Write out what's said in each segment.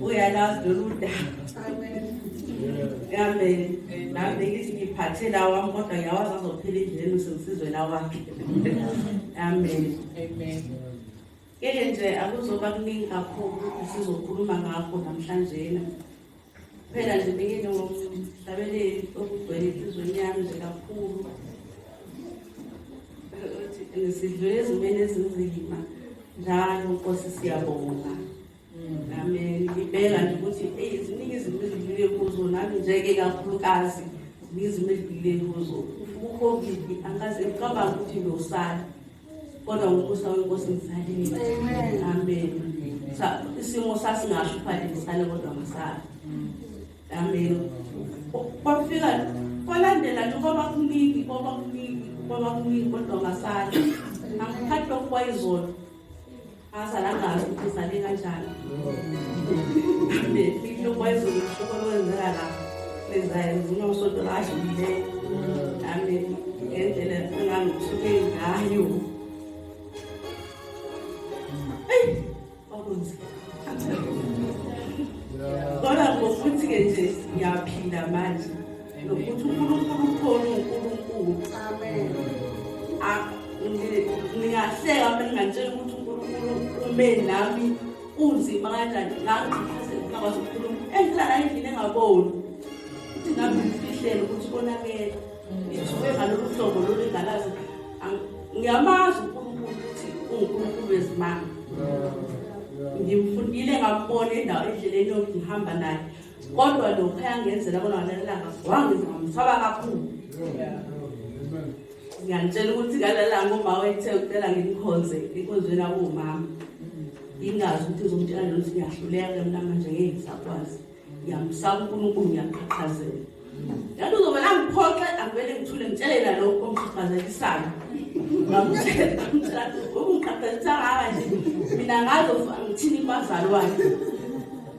uyalazi lolu daba amen nami ngithi ngiphathe lawami kodwa ngiyawazi azophila indleleni usengsizwe lawakhe amen amen ngeke nje akuzoba kuningi kakhulu ukuthi sizokhuluma ngakho namhlanjena phela nje bengene ngomhlabeleli okugcwele enhlizweni yami nje kakhulu sidlule ezimeni ezinzima njalo nkosi siyabonga Amen. Ngibeka nje ukuthi eyi ziningi izinto ezidlule kuzo nami njeke kakhulukazi ziningi izinto ezidlule kuzo. UCovid angikaze ngicabanga ukuthi ngiyosala kodwa ngokusa wenkosi ngisalile. Amen. Sa isimo sasingasho phela ngisale kodwa ngisala. Amen. Kwafika kwalandela nje kwaba kuningi kwaba kuningi kwaba kuningi kodwa ngasala. Angikhathi lokhu kwayizolo. azalangazi ukuthi uzale kanjani lokwezulu kushuko lokwenzeka la lenzayo ngivuna usonto ladlulileyo nami ngendlela engangisuke ngayo eyi kwakunzima kodwa ngokuthi-ke nje ngiyaphila manje nokuthi unkulunkulu ukhona unkulunkulu amen ningahleka mbe ningantshela ukuthi unkulunkulu ume nami unzima kanjani ngangqhaphazela ngakwazi ukukhuluma engilala endlini engaboni ukuthi ngabe ngifihlele ukuthi konakele ngithuke ngalolu hlobo lolu engalazi ngiyamazi unkulunkulu ukuthi ungunkulunkulu wezimanga ngimfundile ngambona endawo endleleni yokungihamba naye kodwa lokho ayangenzela bona ngalelanga wangize ngamsaba kakhulu ngiyantshela ukuthi ngalelanga uma wethe ucela ngimkhonze inkonzweni akuwumama ingazi ukuthi izomtshela nje ukuthi ngiyahluleka ke mna manje ngeke ngisakwazi ngiyamsaba unkulunkulu ngiyaqhaqhazela yathi uzovele angiphoxe angivele ngithule ngitshelela lokho omqhaqhazelisayo ngamtshela ngamtshela ngoba ngiqhaqhazisa ngaka nje mina ngazo ngithini umazali wakhe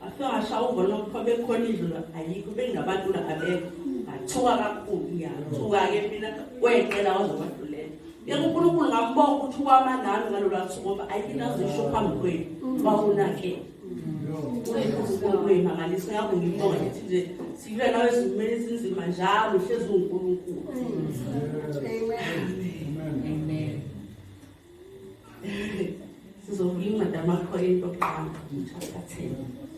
Asasha ubona ukuthi bekhona indlula ayikho bengabantu la abekho athuka kakhulu ngiyathuka ke mina kwecela wazobadlulela yeke uNkulunkulu ngambonga ukuthi wama nami ngalolu suku ngoba ayikina zisho phambi kwenu wawunake uNkulunkulu mangalisa ngakho ngibonga ukuthi nje sibe nawe ezimeni ezinzima njalo uhlezi uNkulunkulu amen amen sizovula incwadi amakhoyinto okuqala chapter 10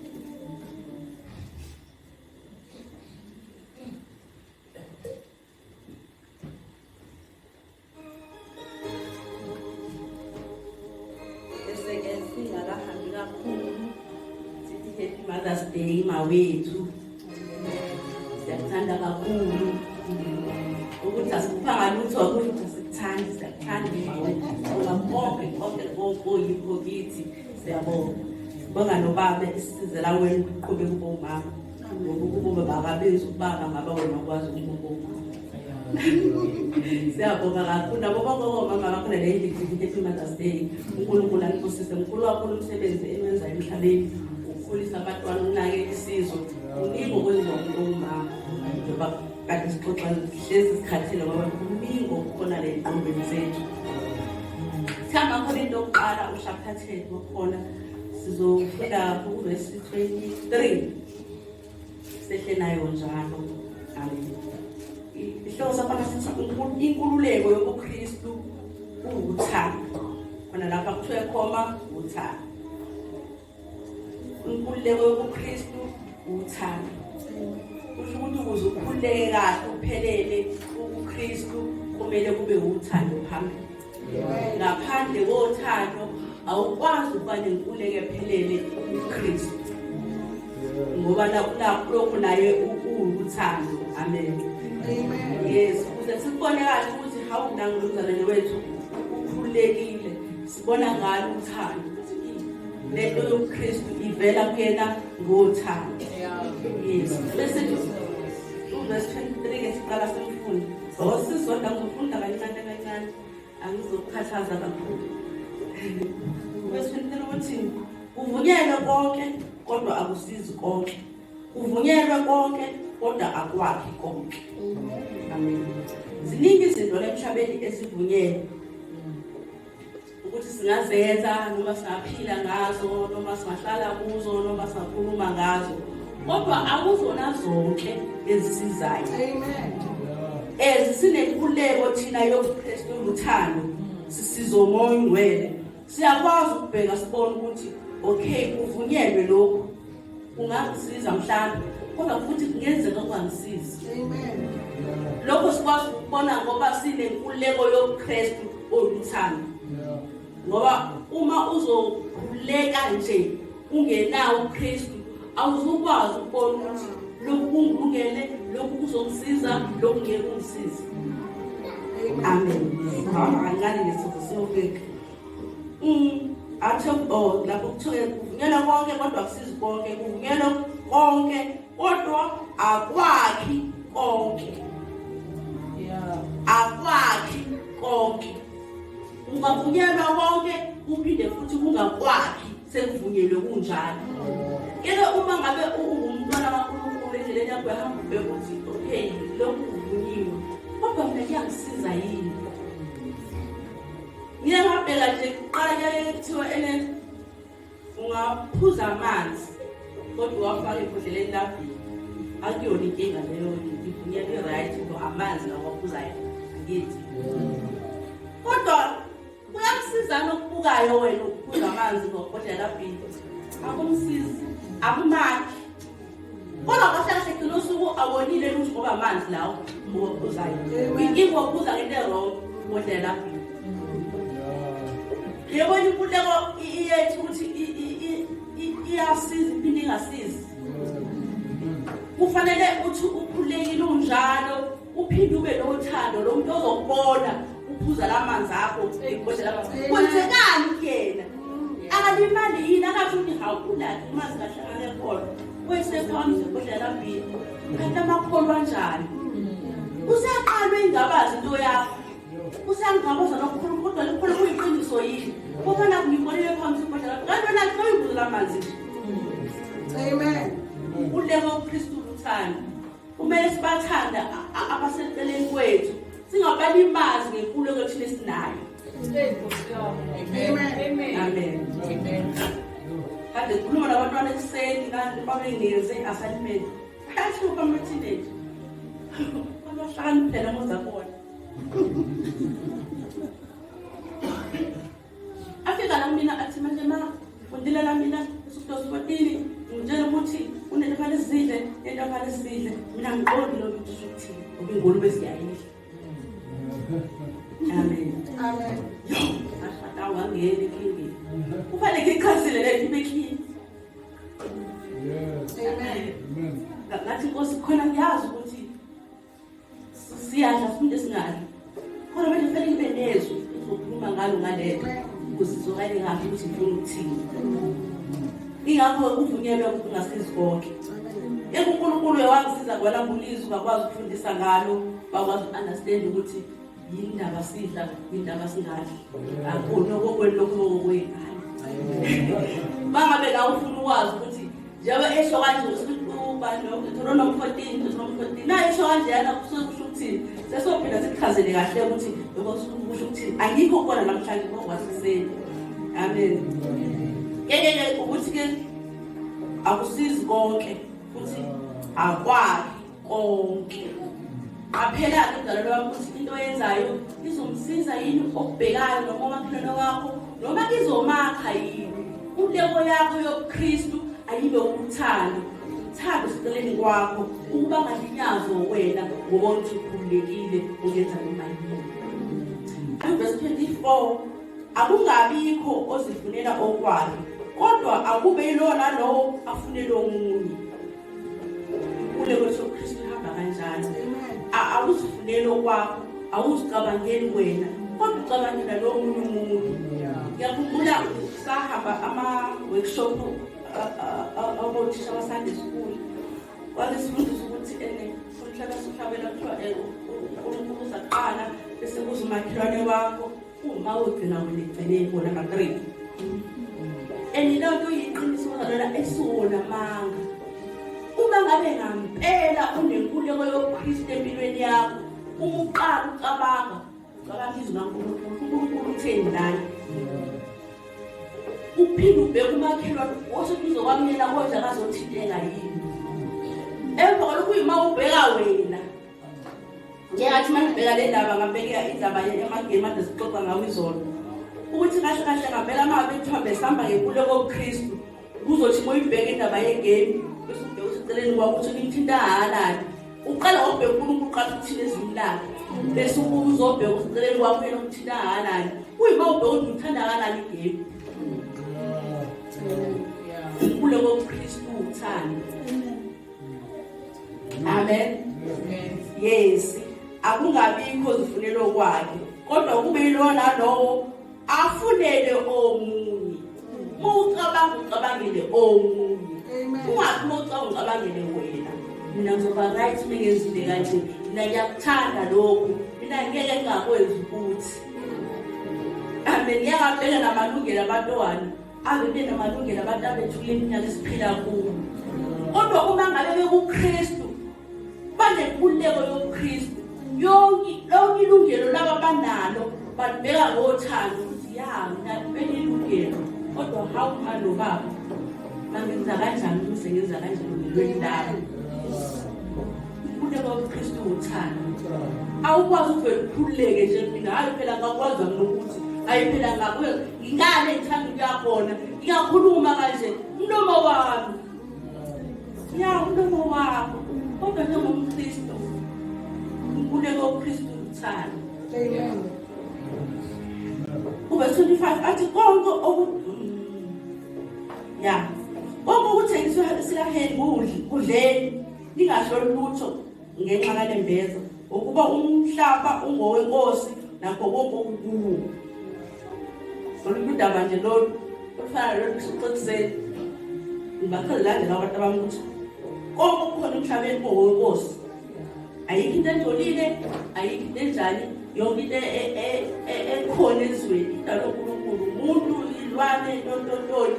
Mother's Day, my way to siyakuthanda kakhulu ukuthi asikuphanga lutho ukuthi sikuthanda siyakuthanda ngoba konke konke okuyikho kithi siyabonga sibonga nobaba isizela wena ukuqhubeka ubomama ngoba ukuba bakabenzi ukubaba ngaba wena ukwazi ukubomama siyabonga kakhulu nabo babobo mama bakho nale individual mothers day unkulunkulu anibusise mkhulu kakhulu umsebenzi enwenza emhlabeni ukukhulisa abatwana unake isizwe kuningi okwenziwa umuntu ongumama njengoba kade sixoxa hlezi sikhathile ngoba kuningi okukhona le nqombeni zethu sihamba khona into yokuqala ushaphatheni wakhona sizofika kuvesi 23 sehle nayo njalo amen ihloko saphana sithi inkululeko yobuKristu uwuthando khona lapha kuthiwe khoma uthando inkululeko yobuKristu uthando kusho ukuthi ukuze ukhululeke kahle uphelele ubuKristu kumele kube uthando phambili ngaphandle kothando awukwazi ukuba nenkuleke phelele uKristu ngoba lokho naye uwuthando amen yes ukuze sikubone kahle ukuthi hawu nangolumzalwane wethu ukhululekile sibona ngalo uthando lento yobuKristu ivela kuyena ngothando yes bese verse 23 ngesiqala semfundo Osisonda ngifunda kancane kancane angizokukhathaza kakhulu. Kwesintela ukuthi kuvunyelwe konke kodwa akusizi konke. Kuvunyelwe konke kodwa akwakhi konke. Amen. Ziningi izinto lemhlabeni esivunyelwe ukuthi singazenza noma singaphila ngazo noma singahlala kuzo noma singakhuluma ngazo kodwa akuzona zonke ezisizayo ezisinenkuleko thina yobuKristu uthando sisizo moya ongcwele siyakwazi ukubheka sibone ukuthi okay kuvunyelwe lokhu ungangisiza mhlawumbe kodwa futhi kungenzeka ungangisizi lokho sikwazi ukubona ngoba sinenkululeko yobuKristu oluthando ngoba uma uzokhuleka nje ungenawo uKristu awuzukwazi ukubona ukuthi lokhu kungilungele lokhu kuzongisiza lokhu ngeke kungisize amen ngani lesifo siyobeka Mm, athi oh lapho kuthiwe kuvunyelwa konke kodwa kusizi konke kuvunyelwa konke kodwa akwakhi konke yeah akwakhi konke ungavunyelwa konke uphinde futhi kungakwakhi sekuvunyelwe kunjalo kele uma ngabe ungumntwana kaNkulunkulu endleleni yakho yahamba ubheka ukuthi okay lokhu kuvunyiwe kodwa mina kuyangisiza yini Ngiye ngabheka nje kuqala kuyaye kuthiwa ene ungaphuza amanzi kodwa uwafake ebhodleleni labhili akuyona inkinga leyo ngivunya i-right ngo amanzi nawaphuzayo angithi kodwa kuyakusizana okubukayo wena ukuphuza amanzi ngobhodlela labhili akumsizi akumakhi kodwa kahle kahle gcina usuku awonile lutho ngoba amanzi lawo ngokubuzayo ingokubuza ngento erong ngodlela yebona inkululeko iyethu ukuthi iyasiza iphinde ingasizi kufanele uthi ukhulekile unjalo uphinde ube nothando lo muntu ozokubona uphuza la manzi akho uyibhodlela amanzi kwenzekani kuyena akalimali yini akathi ukuthi hawu unakhe imanzi kahle anekhona wesephambi zibhodlela lambili kanti amakholwa anjani usaqalwe ingabazi into yakho usangabaza nokukhuluma kodwa likhona kuyiqiniso yini ubona kungibolele phambi sibhodlela kanti wena kuyibuzela amanzi amen uleko kristu luthando Kumele sibathanda abaseceleni kwethu singabalimazi ngenkululeko thina esinayo. Amen. Amen. Amen. Kade khuluma nabantwana ekuseni kanti babengeze assignment. Kathi uphamba teenage. Abahlakaniphela mozakona. afika la kumina athi manje ma undile la mina usudosa ukotini ngitshela ukuthi unento fane sidle into fane sidle mina ngiqondi lo muntu ukuthi ubingulu besiyayidla amen amen yo ashada wangena ekhini kufanele ngichazile le into ekhini yes amen ngathi nkosi khona ngiyazi ukuthi siyadla siphinde singadli khona manje kufanele kube nezwi uzokhuluma ngalo ngalento ukuze izokale kahle ukuthi ngifuna ukuthini ingakho kuvunyelwe ukuthi ungasizi konke ekunkulunkulu uyawangisiza kwalambulizwe ungakwazi ukufundisa ngalo bakwazi uku-understand ukuthi yindaba sidla yindaba singadli akona okokwenu lokhu okokwenu mangabe la ufuna ukwazi ukuthi njengoba esho kanje ubanomfourteen unomfourteen naye esho kanjeyana kusuke kusho ukuthini sesophinda sikuchazele kahle ukuthi lokho kusuke kusho ukuthini angikho kukona namhlanje kokwasiseni amen yekeke ukuthi-ke akusizi konke futhi akwakhe konke qaphelani umdalelo wakho ukuthi into oyenzayo izomsiza yini okubhekayo noma umakhelwane wakho noma izomakha yini inteko yakho yobuKristu ayibe ukuthanda uthanda useceleni kwakho ukuba ngalinyazwe wena ngoba uthi ukhululekile uyenza noma yini verse 24 akungabikho ozifunela okwakhe kodwa akube yilona lowo afunele omunye ukhule kwesoKristu hamba kanjalo awuzifuneli okwakho awuzicabangeli wena kodwa ucabangela lowo munye umuntu ngiyakhumbula sahamba ama-workshop abothisha basande school wazisifundisa ukuthi ene sonhlaka sihlabela kuthiwa eh, unkulunkulu uzaqala bese kuza umakhelwane wakho Uma ugcina weligcine ibona kaGreek. And loo nto iyiqiniso kodwa esiwona manga. Uma ngabe ngampela unenkuleko yobuKristu empilweni yakho, uma uqala ucabanga, ucabanga izwi laNkulunkulu, uNkulunkulu utheni lana? Uphinde ubheke umakhelwane, washo kuze kwamyela kodwa akazothinteka yini? Emva kwalokho uyima ubheka wena. Njengathi uma ngibheka le ndaba ngabheka indaba yemagame ade sixoxa ngawo izolo ukuthi kahle kahle ngampela uma bethiwa besihamba ngenkululo kobuKristu kuzothi uma uyibheka indaba yegame bese ubheka ukuthi eceleni kwakho ukuthi kuyithinta halali uqala ngokubheka unkulunkulu uqala ukuthina ezwini lakhe bese ubuka uzobheka ukuthi eceleni kwakho yena ukuthinta halali kuyima ubheka ukuthi ngithanda halali igame kulo kobuKristu uthando amen yes akungabikho zifunelo kwakhe kodwa kube yilona lowo afunele omunye mucabanga ucabangele omunye ungathi mucabanga ucabangele wena mina ngizoba right mengenzile kanje mina ngiyakuthanda lokhu mina ngeke ngingakwenzi ukuthi amen ngiyakabheka namalungelo abantwana Ave benamalungelo abantu abethula iminyaka esiphila kuwo. Kodwa uma ngabe bekuKristu banenkululeko yobuKristu. Yonke lonke ilungelo laba banalo balibeka ngothando ukuthi ya mina kumele ilungelo kodwa how ma lo baba mangenza kanjani ukuze ngenza kanjani ngilweni lami ukululeka ubuKristu uthando awukwazi ukuvele ukhululeke nje mina hayi phela ngakwazi ngokuthi hayi phela ngakuye ngane ngithanda ukuya khona ngiyakhuluma kanje mlomo wami ya mlomo wakho kodwa njengomkristu nkuleko ukristu uthanda kube 25 athi konke oku ya konke okuthengiswa sikahendi kudleni ningasho lutho ngenxa kalembeza ukuba umhlaba ungowenkosi nakho konke okukuwo olunye udaba nje lolu olufana lolu xekuseni ngibakhe lilandela abantu abami ukuthi konke okukhona emhlabeni kungowenkosi ayikho into engcolile ayikho into enjani yonke into e, e, e, ekhona ezweni idalwa unkulunkulu umuntu ilwane ntontontoni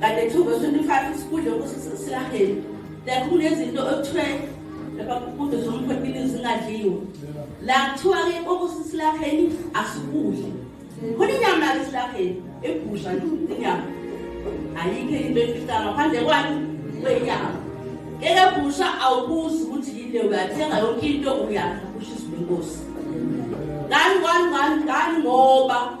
kanti two verse twenty five isikudla silaheli like kunezinto okuthiwe lapha kude zomphephile zingadliwe la kuthiwa-ke okusisilaheli asikudli khona inyama lake silaheli ebhusha inyama ayikho into efisa ngaphandle kwani kwenyama ngeke bhusha awubuzi ukuthi yile uyathenga yonke into uyadla kusho izwi lenkosi ngani ngani ngani ngani ngoba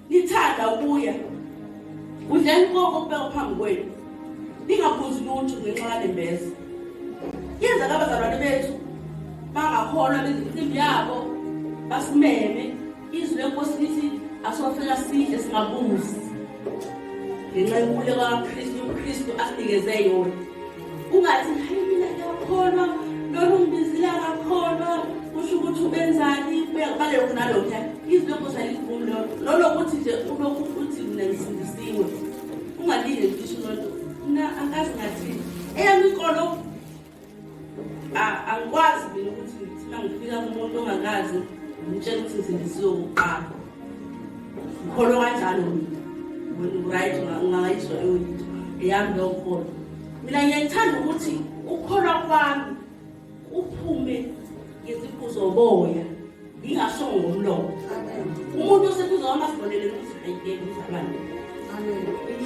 Nithanda ukuya kudleni konke okubekwa phambi kwenu, ningabuzi lutho ngenxa yanembeza. Yenza kabazalwane bethu bangakholwa bezimcimbi yabo basimeme izwi lenkosi lithi asofela sidle singabuzi ngenxa yenkululeko kaKristu uKristu asinikeze yona ungathi hayi mina ngiyakholwa lona ungibizile akakholwa kusho ukuthi ubenzani balokhu nalokhuya izilokho salivumi lolo lolo kuthi nje ulokhu uthi mina ngisindisiwe ungalinde ngisho lolo mna angazi ngathini eyami inkolo angikwazi mina ukuthi ngithina ngifika kumuntu ongakazi ngitshela ukuthi ngisindisiwe kuqala Ngikholwa kanjalo mina. Ngiright ngingayizwa eyolitho. Eyami leyo nkolo. Mina ngiyayithanda ukuthi ukukholwa kwami uphume ngeziqu zoboya ngingashongo ngomlomo. Umuntu oseduze wami asibonele ukuthi ayikele umzalwane.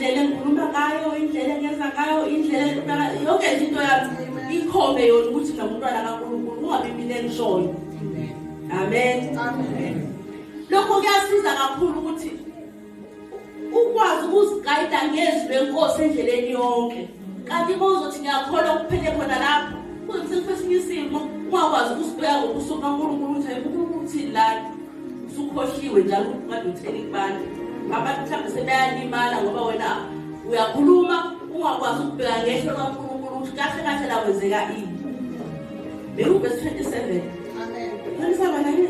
indlela engikhuluma ngayo indlela engenza ngayo indlela yonke nje into yami ikhombe yona ukuthi nomntwana kankulunkulu ungabi mina engishoyo amen, amen. lokho kuyasiza kakhulu ukuthi ukwazi ukuzigayida ngezwi lenkosi endleleni yonke kanti bozothi ngiyakholwa kuphele khona lapho kuzokusesinye isimo ungakwazi ukusibeka ngobuso bukankulunkulu ukuthi ayikunkulunkulu uthini lana usukhohliwe njalo ukuthi manje utheni kubantu abantu mhlawumbe sebeyalimala ngoba wena uyakhuluma ungakwazi ukubheka ngehlo kankulunkulu ukuthi kahle kahle lakwenzeka ini Bewuvesi 27. Amen. Khonisa bana yini?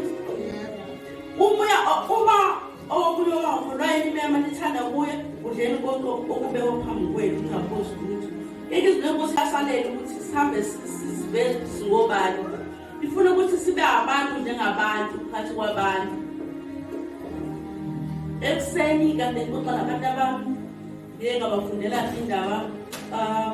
Umoya uma okuyo wakho lwayimema nithanda kuye udleni konke okubekwa phambi kwenu ngaphosi ukuthi yeke izinto enkosi yasalele ukuthi sihambe sizibe singobani ifuna ukuthi sibe abantu njengabantu phakathi kwabantu ekuseni kanti ngixoxa nabantu abami ngiyengabafundela indaba um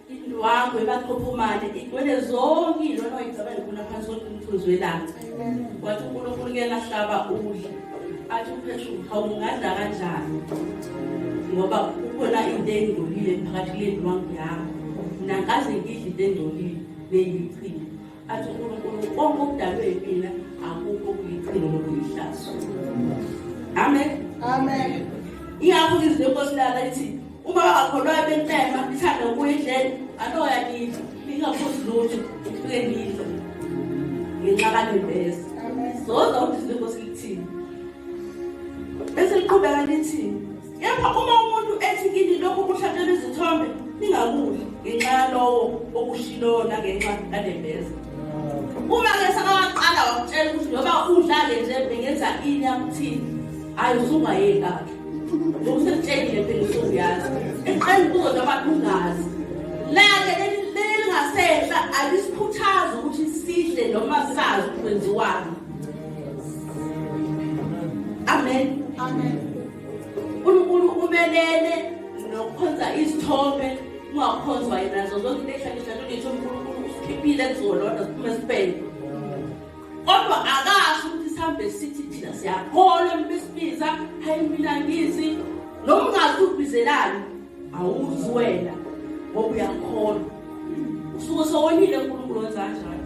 indwangu ebaqophumane igcwele zonke ilona oyicabanga ukuna phansi konke umthunzi welanga wathi unkulunkulu ke lahlaba udla athi upheshu hawungadla kanjani ngoba kukhona into engcolile phakathi kule ndwangu yakho nangaze ngidla into engcolile neyichile athi unkulunkulu konke okudalwe yimina akukho kuyichilo lokuyihlazo amen amen iyakho izwi lenkosi lala ithi uma bangakholwayo bentema ithanda ukuya endleni anoya nidla ningaphuzi lutho ufike nidla ngenxa kanembeza soza ukuthi izwi lenkosi lithini bese liqhubeka lithini Kepha uma umuntu ethi kini lokhu kuhlatshelwa izithombe ningakudli ngenxa yalowo okushiloyo nangenxa yalembeza uma ke sakawaqala wakutshela ukuthi noma udlale nje bengenza ini akuthini hhayi usungayeki akhe ngoba sekutshengile phela usuyazi eqela ukuzo noma ungazi lake lelingasehla alisikhuthazi ukuthi sidle noma sazi kwenziwani Amen. Amen. Unkulunkulu umelele nokukhonza izithombe ungakhonzwa yena nazo zonke into ehlakisha lolitho unkulunkulu usikhiphile kuzolona siphume sibheke kodwa akasho ukuthi sihambe sithi thina siyakholwa besimiza hayi mina ngizi noma ungazi ubizelani awuzi wena ngoba uyakholwa usuke sowonile unkulunkulu wenza kanjani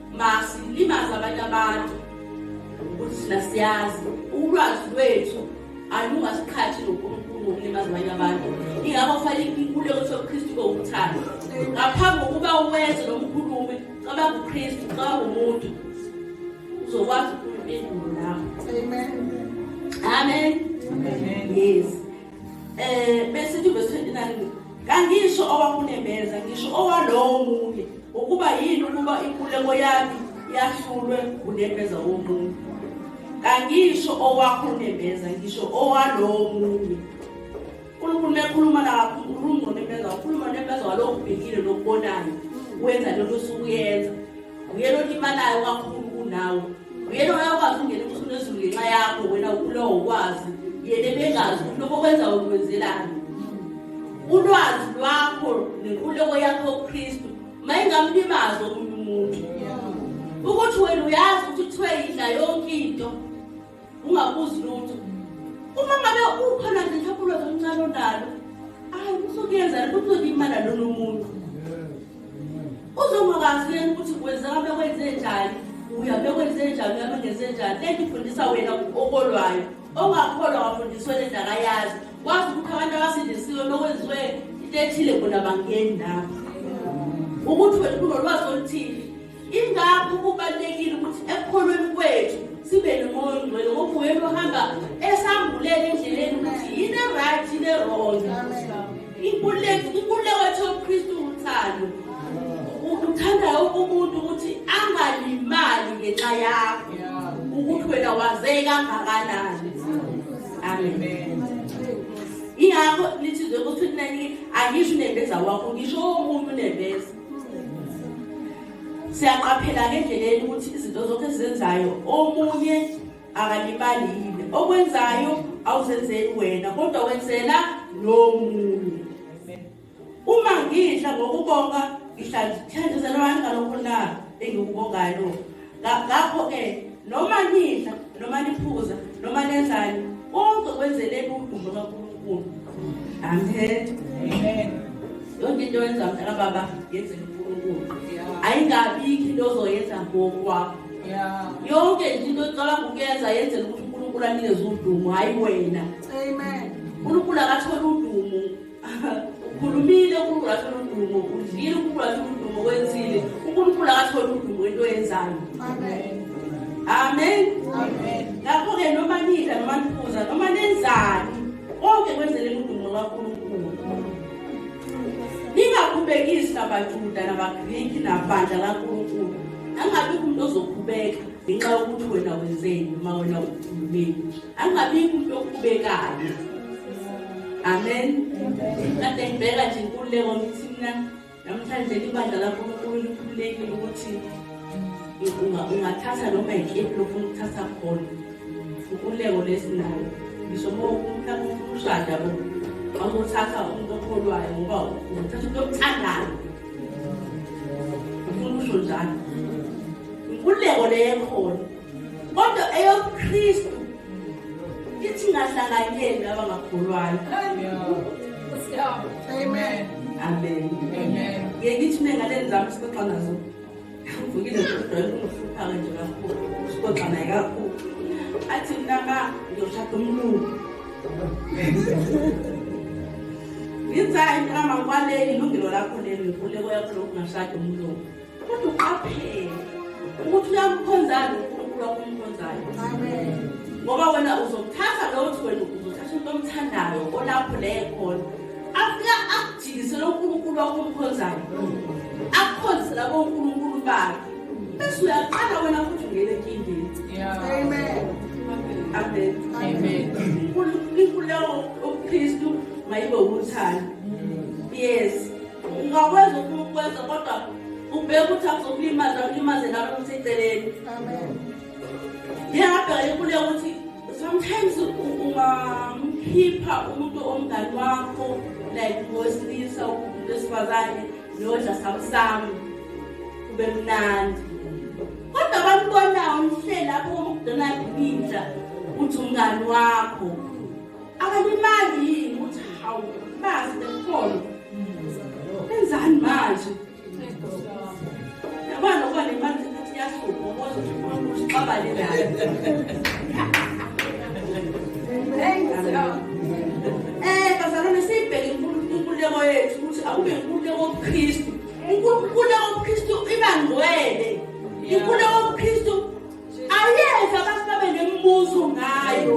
masilimaze abanye abantu ukuthi thina siyazi ulwazi lwethu alungasiqhathi nonkulunkulu ngokulimaza abanye abantu ingakho kufanele inkuleko sobukhristu kowuthando ngaphambi kokuba uwenze lo mkhulumi cabanga ukhristu cabanga umuntu uzokwazi ukhuluma endulo lapho amen amen yes Eh bese verse 29 kangisho owakunembeza ngisho owalowo munye ukuba yini ukuba inkuleko yami yahlulwe unembeza womunye kangisho owakho unembeza ngisho owalowo munye uNkulunkulu mekhuluma la ukhuluma nembeza ukhuluma nembeza walokubhekile lokubonayo wenza lento osukuyenza Nguyena olimalayo kakhulu kunawe. Nguyena oyakwazi ukungena umsunu ezulu ngenxa yakho wena ukulowo ukwazi. Yena ebengazi ukuthi lokho kwenza ukwenzelani. Ulwazi lwakho nenkululeko yakho kuKristu mayingamlimazi omunye umuntu. Ukuthi wena uyazi ukuthi kuthiwe yidla yonke into. ungabuzi lutho uma ngabe ukhona nje mhlawumbe ulwazi oluncane onalo hayi usukuyenzela ukuthi uzolimala lona umuntu uzongakazi yena ukuthi kwenzeka bekwenze njani uya bekwenze njani uya bengenze njani lento ifundisa wena okolwayo ongakholwa wafundiswe le nto akayazi wazi ukuthi abantu abasindisiwe nokwenziwe into ethile bona bangeni lapho ukuthi wena kunolwazi oluthile Ingakho kubalulekile ukuthi ekukholweni kwethu sibe nomoya ongcwele ngoba uyena ohamba esambulela endleleni ukuthi yini eright yini erong inkululeko inkululeko yethu yobukhristu uthando uthanda wonke umuntu ukuthi angalimali ngenxa yakho ukuthi wena waze kangakanani amen ingakho lithi zokuthi nanike angisho unembeza wakho ngisho omunye unembeza siyaqaphela-ke endleleni ukuthi izinto zonke ezenzayo omunye akalimali yini okwenzayo awuzenzeli wena kodwa wenzela nomunye uma ngidla ngokubonga ngihlanjuzela abantu ngalokho na engikubongayo ngakho-ke noma nidla noma niphuza noma nenzani konke kwenzeleni udumo kankulunkulu amen yonke into yenza mntana baba yenzela unkulunkulu ayingabikho into ozoyenza ngokwakho yonke nje into oqala ngokuyenza yenzela ukuthi unkulunkulu anikeze udumo hhayi wena unkulunkulu akathole udumo ukhulumile unkulunkulu athole udumo udlile unkulunkulu athole udumo wenzile unkulunkulu akathole udumo into yenzayo amen ngakho-ke noma nidla noma niphuza noma nenzani konke kwenzeleni udumo lwankulunkulu ningakhubekisi nabajuda nabagriki nabandla lankulunkulu angabi kumntu ozokhubeka ngenxa yokuthi wena wenzeni noma wena ukhulumeni angabi kumntu okhubekayo amen kade ngibheka nje inkululeko ngithi mina namhlanje libandla lankulunkulu likhululekile ukuthi ungathatha noma yikephi lofuna ukuthatha khona inkululeko lesinayo ngisho uma umuntu akushada bo awuthatha umuntu okholwayo ngoba uthatha umuntu okuthandayo ufuna usho njalo inkululeko leyo ekhona kodwa eyobuKristu ithi ngahlanganyeli laba ngakholwayo amen amen ngeke ithi mengaleni zami sixoxa nazo ngivukile kodwa kungihlupha-ke nje kakhulu sixoxa naye kakhulu athi mntaka ngiyoshada umlungu ngithi hayi mntaka mangibaleki ilungelo lakho leli nkuleko yakho lokungashada umlungu Kodwa uqaphele ukuthi uyamkhonzani uNkulunkulu okumkhonzayo. Amen. Ngoba wena uzokuthatha lo uthi wena uzothatha umuntu omthandayo olapho leye khona. Afika akujikisele uNkulunkulu okumkhonzayo. Akukhonze labo uNkulunkulu bakhe. Bese uyaqala wena futhi ungene enkingeni. Amen. Amen. Amen. Unkulunkulu lowo uKristu mayibe uthando. Yes. ungakwenza ufuna ukwenza kodwa ubheke ukuthi akuzokulimaza akulimaze nalo ukuthi eceleni ngiyabheka inkuluya ukuthi sometimes ungamkhipha umuntu omngani wakho like ngowesilisa umuntu wesifazane niyodla samsamu kube mnandi kodwa bambonayo umhleli lapho umdonald ibinja uthi umngani wakho Akalimali yini ukuthi hawu bazi bekhona. Enzani manje? Yabona ukuba nemali ukuthi yasuka ngokuthi uxabane naye. Hey, eh bazalwane sibheke inkululeko yethu ukuthi akube inkululeko yobuKristu. Inkululeko yobuKristu iba ngcwele. Inkululeko ayenza abantu babe nemibuzo ngayo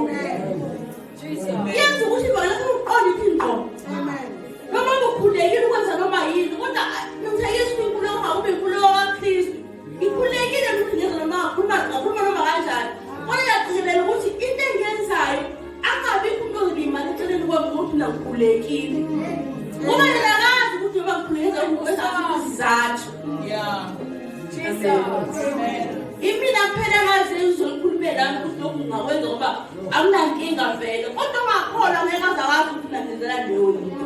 yenza ukuthi lona uqonde ithi ngqo noma ukhulekile ukwenza noma yini kodwa ngithi yesu inkulumo ngakube inkulumo kakristu ngikhulekile ukuthi ngenza noma khuluma khuluma noma kanjani kodwa yagcizelela ukuthi into engenzayo angabikho umuntu ozobe imali eceleni kwami ngokuthi nangikhulekile ngoba yena akazi ukuthi noma ngikhuleke ngizathu impilo akuphela kazi uzolikhulumela ukuthi lokhu ngingakwenza ngoba akunankinga vele kodwa ungakholwa ngeke azawazi ukuthi nangenzelani leyo yinto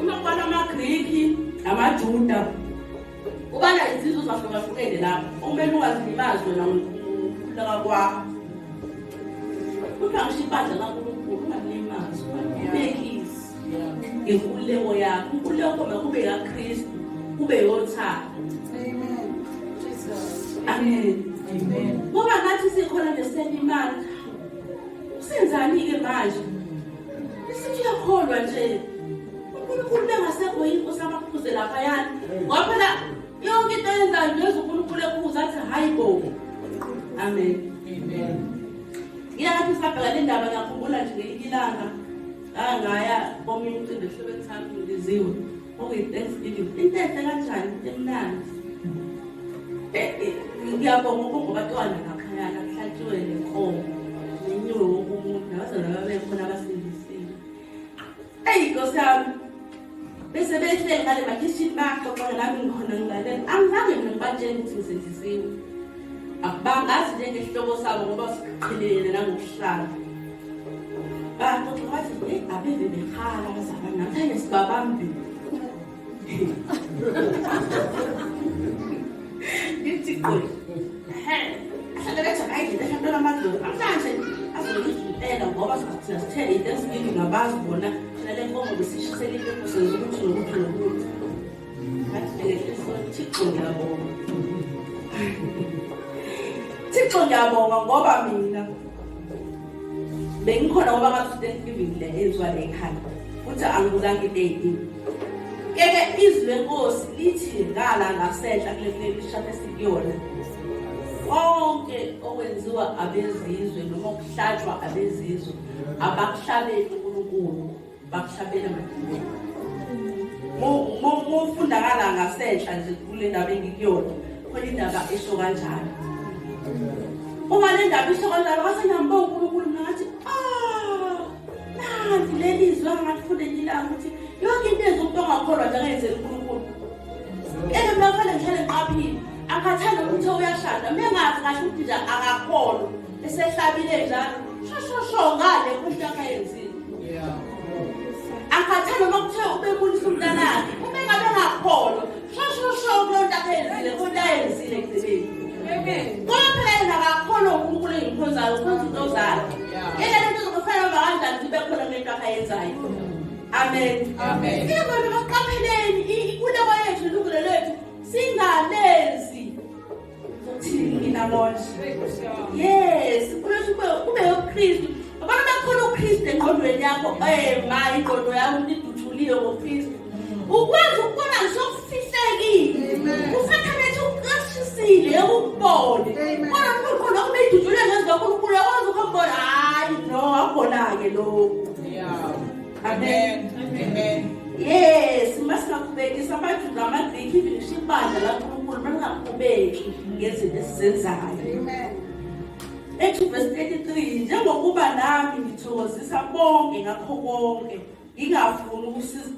Uma kubala amaGriki namaJuda ubala izizwe zahlukahlukene lapho okumele ungazilimazwe nangokukhululeka kwakho kuthiwa ngisho ibandla lankulunkulu ungalimazwa ubekisi ngenkululeko yakho inkululeko koma kube yakristu kube yothando amen ngoba ngathi sikhona ngesenye imali Usenzani-ke manje? Isithi uyakholwa nje. UNkulunkulu bengasekho yini inkosi abaphuze lapha yani. Ngoba phela yonke into ayenzayo ngezwe uNkulunkulu ephuza athi hayi bo. Amen. Amen. Ngiyakho sabheka le ndaba ngakhumbula nje ngelinye ilanga ngangaya komunye umcimbi ehlobeni sami ngiziwe. Okay, thanks video. Intehle kanjani emnandi. Eh, eh, ngiyabonga ukungoba twana ngaphaya nakuhlatshiwe nenkomo. Nenyiwe wonke umuntu nabazana babekhona abasindisile. Eyi Nkosi yami. Bese behle ngale bakishini baxoxa nami ngikhona ngilalela. Angizange mina ngibatshele ukuthi ngisindisiwe. Abangazi njengehloko sabo ngoba siqhelelene nangokuhlala. Thixo ngiyabonga ngoba mina bengikhona ngoba ngaku-thanksgiving le enziwa le ekhanda futhi angibukanga into eyiningi keke izwi lenkosi lithi ngala ngasenhla kulesishathi esikuyona konke okwenziwa abezizwe noma okuhlatshwa abezizwe abakuhlabeli unkulunkulu bakushabela madimeni mofundakala ngasenhla nje kule ndaba engikuyona khona indaba esho kanjalo uma le ndaba isho kanjalo basenambe unkulunkulu mina ngathi ah, nanti leli zwe angakufunde nyilayo ukuthi yonke into enza umuntu ongakholwa nje angenzela unkulunkulu eke mina kufanele ngihlale ngiqaphile akhathanda ukuthi uyashada mina ngazi kahle ukuthi nje akakholwa esehlabile njalo shoshosho ngale kuhle akayenzile angikhathele uma kuthe ubebulisa umntanakhe uma engabe ngakholwa shoshosho kulo nto akayenzile konto ayenzile ekugcineni kodwa phela yena akakhona unkulunkulu engikhonzayo ukhonza into zakhe yena lento zokufanele uba kanjani zibe khona kule nto akayenzayo amen amen ingakona baqapheleni ikuleko yethu ilungelo lethu singalenzi Yes, kube uKristu. Abantu bakhona uKristu engqondweni yakho, eh ma ingqondo yakho iduthuliwe ngoKristu. Ukwazi ukubona ngisokufihlekile. Usathane ethi uqashisile yokubona. Kodwa uNkulunkulu lokho beyidutshulwe ngezwi kaNkulunkulu yakwazi ukubona. Hayi, no, akubona-ke lokho. Amen. Amen. Yes, masingaqhubekisa abantu ngamaGriki ngisho ibandla laNkulunkulu malingaqhubeki ngezinto esizenzayo. Amen. Ethi verse 33 njengokuba nami ngithokozisa bonke ngakho konke ngingafuni ukusiza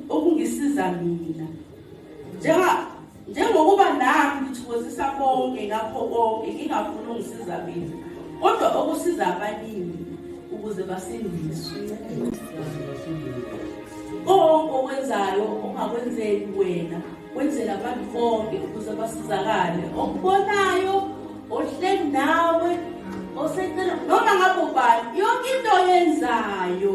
okungisiza mina. Njenga Njengokuba nami ngithokozisa bonke ngakho konke ngingafuni ungisiza mina kodwa okusiza abaningi ukuze basindiswe. Konke okwenzayo ungakwenzeli wena wenzela abantu bonke ukuze basizakale okubonayo ohleli nawe oseceleni noma ngabe ubani yonke into oyenzayo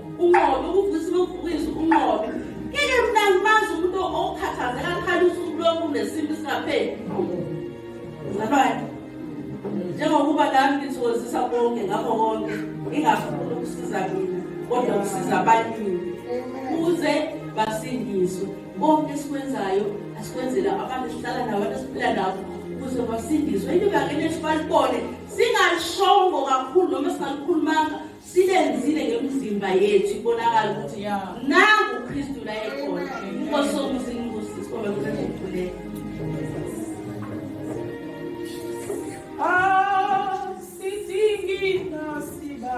Unqobe ukuvusa ulovukiza unqobe. Ngeke mina ngimazi umuntu okhathazeka akhala usuku lonke unesintu singapheli. Ngabani? Njengokuba nami ngithokozisa bonke ngakho konke ngingafuni ukusiza mina kodwa ukusiza abaningi ukuze basindiswe. Konke esikwenzayo asikwenzela abantu esihlala nabo abantu esiphila nabo ukuze basindiswe. Into bangene sibalibone singalishongo kakhulu noma singalukhulumanga Sibenzile ngemizimba yethu ibonakala ukuthi nangu uKristu la ekhona. Inkosi yomuzi inkosi sibonga ukuthi ukhuleke. Ah, sidingi nasiba.